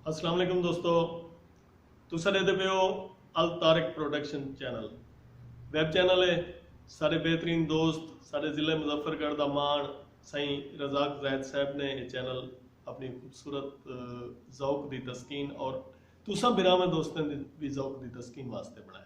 السلام علیکم دوستو تساں ݙیکھدے پئے ہو الطارق پروڈکشن چینل ویب چینل ہے سارے بہترین دوست سارے ضلع مظفر گڑھ دا مان سائیں رزاق زاہد صاحب نے یہ چینل اپنی خوبصورت ذوق دی تسکین اور تساں بھراواں دوستاں دی بھی ذوق دی تسکین واسطے بنایا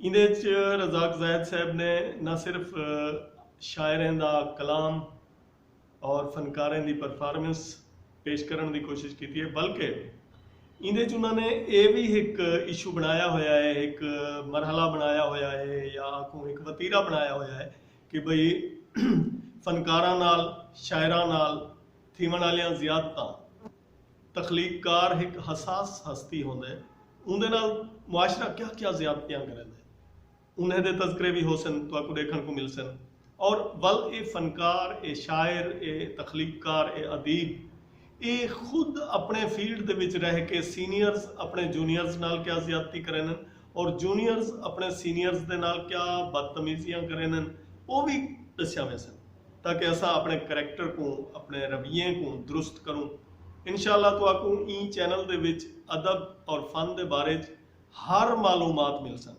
ایندے اچ رزاق زاہد صاحب نے نہ صرف شاعریں دا کلام اور فنکاریں دی پرفارمنس پیش کرݨ دی کوشش کیتی ہے بلکہ ایندے اچ انہاں نے اے وی ہک ایشو بݨایا ہویا ہے ہک مرحلہ بݨایا ہویا ہے یا آکھوں ہک وتیرہ بݨایا ہویا ہے کہ بھئی فنکاراں نال شاعراں نال تھیوݨ آلیاں زیادتاں تخلیق کار ہک حساس ہستی ہوندے اوندے نال معاشرہ کیا کیا زیادتیاں کریندے انہیں دے تذکرے وی ہوسن تہاکوں ڈیکھن کوں ملسن اور ول اے فنکار اے شاعر اے تخلیق کار اے ادیب اے خود اپنڑے فیلڈ دے وچ رہ کے سینئرز اپنڑے جونیئرز نال کیا زیادتی کرینن اور جونیئرز اپنڑے سینئرز دے نال کیا بدتمیزیاں کرینن او وی ڈسیا ویسن۔ تاکہ اساں اپݨے کریکٹر کوں اپݨے رویے کوں درست کروں۔ انشاء اللہ تہاکوں ایں چینل دے وچ ادب اور فن دے بارے اچ ہر معلومات ملسن۔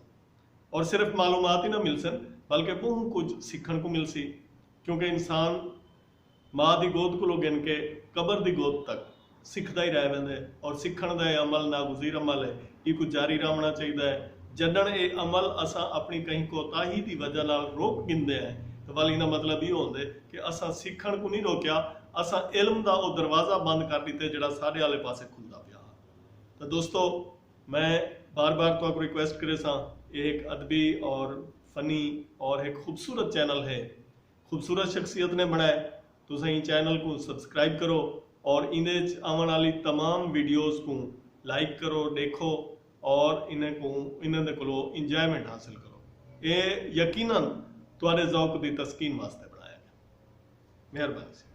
اور صرف معلومات ہی نہ ملسن بلکہ ٻہوں کجھ سکھݨ کوں ملسی کیونکہ انسان ماء دی گود کولوں گھن کے قبر دی گود تک سکھدا ہی رہ ویندے اور سکھݨ دا اے عمل ناگزیر عمل اے ایکوں جاری رہوݨا چاہیدا اے جݙݨ اے عمل اساں اپݨی کہیں کوتاہی دی وجہ نال روک گھندے ہیں تاں ول ایندا مطلب ایہو ہوندے کہ اساں سکھݨ کوں نی روکیا اساں علم دا او دروازہ بند کر ݙتے جیڑھا ساݙے آلے پاسے کھلدا پیا ہا تاں دوستو میں بار بار تہاکوں ریکویسٹ کریساں اے ہک ادبی اور فنی اور ہک خوبصورت چینل ہے خوبصورت شخصیت نے بنڑائے۔ تساں ایں چینل کوں سبسکرائب کرو اور ایندے اچ آونڑ آلی تمام ویڈیوز کوں لائک کرو ڈیکھو اور انہاں کوں انہاں دے کولو انجوائمنٹ حاصل کرو۔ اے یقینا تہاڈے ذوق دی تسکین واسطے بنڑایا گئے۔ مہربانی سیدھا۔